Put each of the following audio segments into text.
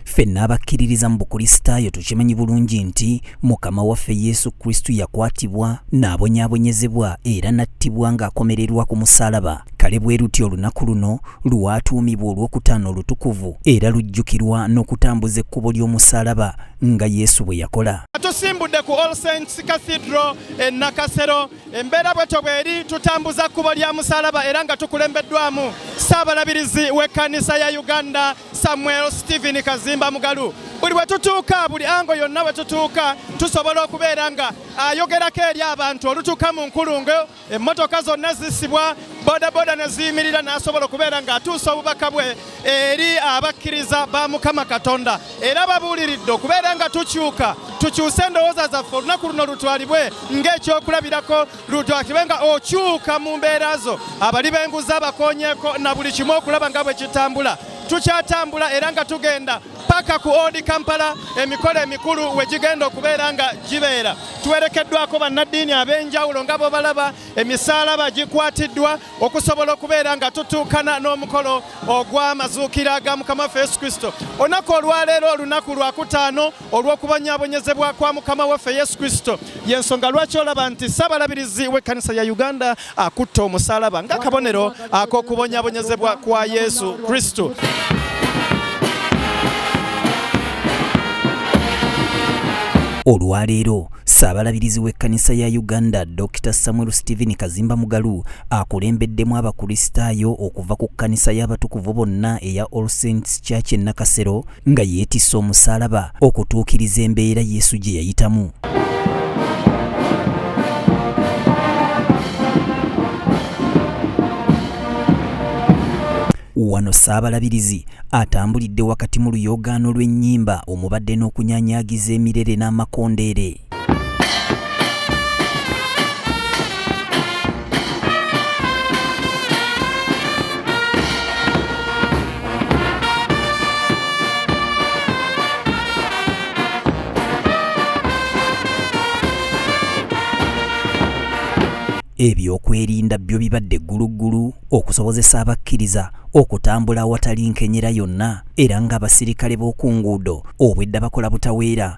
Ffenna abakkiririza mu Bukristaayo tukimanyi bulungi nti Mukama waffe Yesu Kristo yakwatibwa, n'abonyaabonyezebwa era n'attibwa ng'akomererwa ku musaalaba. Kale bwe luti olunaku luno lwatuumibwa olw'okutaano olutukuvu era lujjukirwa n'okutambuza ekkubo ly'omusaalaba nga Yesu bwe yakola. Tusimbudde ku All Saints Cathedral e Nakasero. Embeera bwetyo bweri, tutambuza kkubo lya musaalaba era nga tukulembeddwamu Ssaabalabirizi w'ekkanisa ya Uganda, Samuel Steven Kazimba Mugalu buli bwe tutuuka buli ango yonna bwe tutuuka tusobola okubeera nga ayogerako eri abantu olutuuka mu nkulungo emmotoka zonna zisibwa bodaboda ne ziyimirira n'asobola okubeera ng'atuusa obubaka bwe eri abakkiriza ba mukama katonda era babuuliridde okubeera nga tukyuka tukyuse endowooza zaffe olunaku luno lutwalibwe ng'ekyokulabirako ludwa kibe nga okyuka mu mbeera zo abali b'enguzi abakonyeeko na buli kimu okulaba nga bwe kitambula tukyatambula era nga tugenda paka ku Old Kampala emikolo emikulu we gigenda okubeera nga gibeera tuwerekeddwako bannaddiini ab'enjawulo nga bobalaba emisaalaba gikwatiddwa okusobola okubeera nga tutuukana n'omukolo ogw'amazuukira ga mukama waffe yesu kristo olunaku olwaleero olunaku lwakutaano olw'okubonyaabonyezebwa kwa mukama waffe yesu kristo yensonga lwaki olaba nti ssabalabirizi w'ekkanisa ya uganda akutte omusalaba ng'akabonero ak'okubonyaabonyezebwa kwa yesu kristo olwaleero ssaabalabirizi w'ekkanisa ya uganda dr samuel stephen kazimba mugalu akulembeddemu abakristaayo okuva ku kkanisa y'abatukuvu bonna eya all saints church e nakasero nga yeetisse omusaalaba okutuukiriza embeera Yesu gye yayitamu. Wano Ssaabalabirizi atambulidde wakati mu luyoogaano lw'ennyimba omubadde n'okunyaanyaagiza emirere n'amakondeere. ebyokwerinda byo bibadde gguluggulu okusobozesa abakkiriza okutambula awatali nkenyera yonna era ng'abasirikale b'oku nguudo obwedda bakola butaweera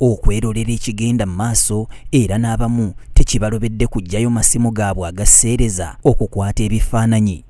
okwerolera ekigenda mu maaso era n'abamu tekibalobedde kuggyayo masimu gaabwe agaseereza okukwata ebifaananyi.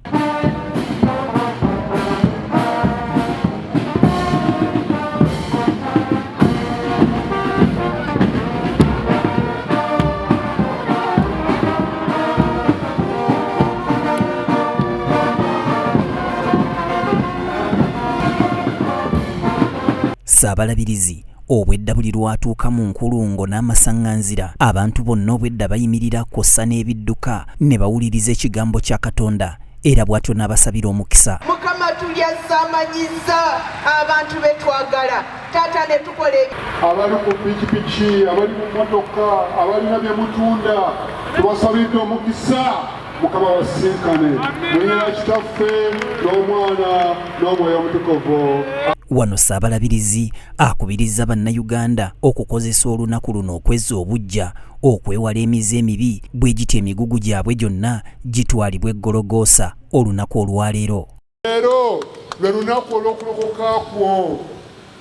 Ssaabalabirizi obwedda buli lwatuuka mu nkulungo n'amasaŋŋanzira abantu bonna obwedda bayimirira kwossa n'ebidduka ne bawuliriza ekigambo kya katonda era bw'atyo n'abasabira omukisa mukama tulyazamanyizza abantu be twagala taata ne tukola abali ku pikipiki abali mu motoka abalina bye mutunda tubasabidde omukisa mukama basinkane muyina kitaffe n'omwana n'omwoyo omutukuvu wano ssaabalabirizi akubirizza bannayuganda okukozesa olunaku luno okwezza obuggya okwewala emize emibi bwe gitya emigugu gyabwe gyonna gitwalibwa eggologoosa olunaku olwaleero leero lwe lunaku olw'okulokoka kwo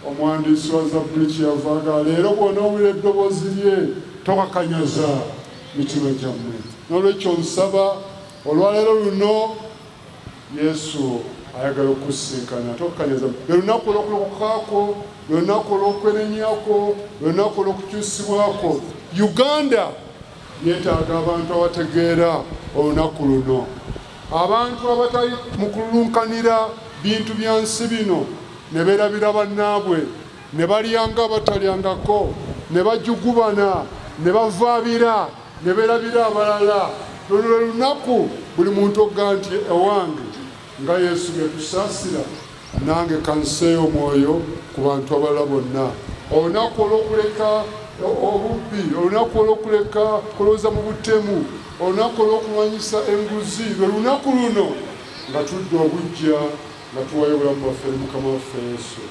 omuwandiisi wa zabbuli kyeyavaaga leero bwona owulira eddoboozi lye tokakanyaza mitima gyammwe n'olwekyo nsaba olwaleero luno Yesu ayagala okukusisinkana ate okukanyaza lwe lunaku olw'okulokoka kwo, lwe lunaku olw'okwenenya kwo, lwe lunaku olw'okukyusibwa kwo. Uganda yeetaaga abantu abategeera olunaku luno, abantu abatali mu kululunkanira bintu bya nsi bino ne beerabira bannaabwe ne balyanga batalyangako ne bajugubana ne bavaabira ne berabira abalala luno lwe lunaku buli muntu okga nti ewange nga yesu bye tusasira nange kanseeyo omwoyo ku bantu abalala bonna olunaku olwokuleka obubbi olunaku olwokuleka kulowooza mu butemu olunaku olwokulwanyisa enguzi lwe lunaku luno nga tudda obujja nga tuwayo obulamu bwaffe eri mukama waffe yesu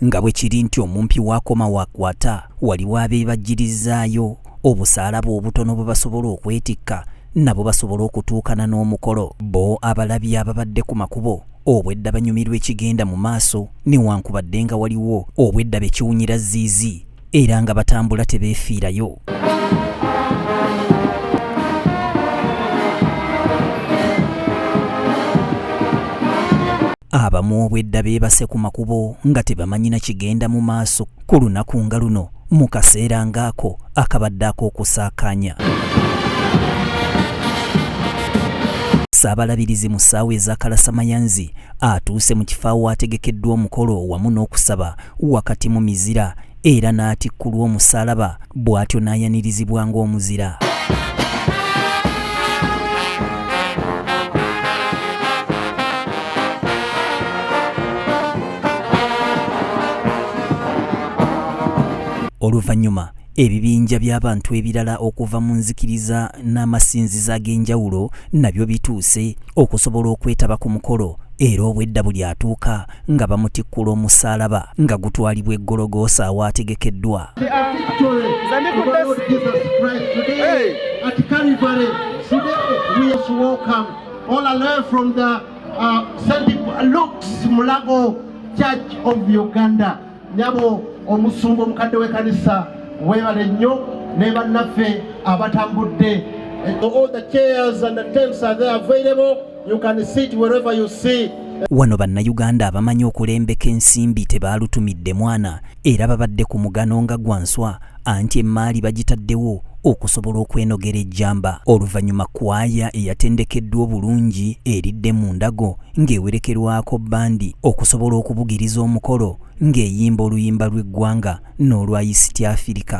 nga bwe kiri nti omumpi waakoma waakwata waliwo abeebajjirizaayo obusaalaba obutono bwe basobola okwetikka nabo basobola okutuukana n'omukolo bo abalabi ababadde ku makubo obwedda banyumirwa ekigenda mu maaso newankubadde nga waliwo obwedda bekiwunyira ziizi era nga batambula tebeefiirayo abamu obwedda beebase ku makubo nga tebamanyina kigenda mu maaso ku lunaku nga luno mu kaseera ng'ako akabadde ak'okusaakaanya Ssaabalabirizi mu ssaawa eza kalasamayanzi atuuse mu kifo awaategekeddwa omukolo wamu n'okusaba wakati mu mizira era n'atikkulwa omusaalaba bw'atyo n'ayanirizibwa ng'omuzira oluvannyuma Ebibinja by'abantu ebirala okuva mu nzikiriza n'amasinzizo ag'enjawulo nabyo bituuse okusobola okwetaba ku mukolo era obwedda buli atuuka nga bamutikkula omusaalaba nga gutwalibwa e Gologoosa awaategekeddwa uh, Mulago Church of Uganda. nyabo omusumba omukadde w'ekanisa webale nnyo ne bannaffe abatambudde all the chairs and the tents are there available you can sit wherever you see wano bannayuganda abamanyi okulembeka ensimbi tebaalutumidde mwana era babadde ku mugano nga gwa nswa anti emmaali bagitaddewo okusobola okwenogera ejjamba oluvannyuma kwaya eyatendekeddwa obulungi eridde mu ndago ng'ewerekerwako bandi okusobola okubugiriza omukolo ng'eyimba oluyimba lw'eggwanga n'olwa yisiti afirika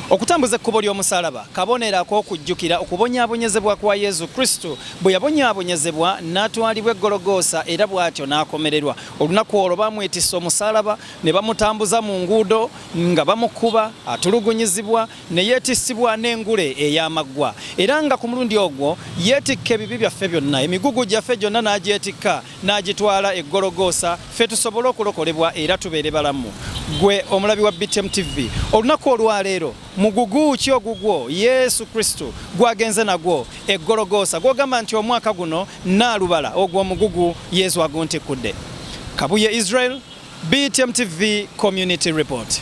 Okutambuza ekkubo ly'omusalaba kabonero ak'okujjukira okubonyaabonyezebwa kwa Yesu Kristo bwe yabonyaabonyezebwa n'atwalibwa e Gologoosa era bw'atyo n'akomererwa. Olunaku olwo baamwetisse omusalaba ne bamutambuza mu nguudo nga bamukuba, atulugunyizibwa ne yeetissibwa n'engule ey'amaggwa era nga ku mulundi ogwo yeetikka ebibi byaffe byonna, emigugu gyaffe gyonna n'agyetikka. n'agitwala e Gologoosa ffe tusobole okulokolebwa era tubeere balamu. Ggwe omulabi wa BTM TV, olunaku olwaleero mugugu ki ogugwo Yesu Kristo gwagenze nagwo e Gologoosa gw'ogamba nti omwaka guno naalubala ogwo omugugu Yesu aguntikkudde? Kabuye Israel, BTM TV Community Report.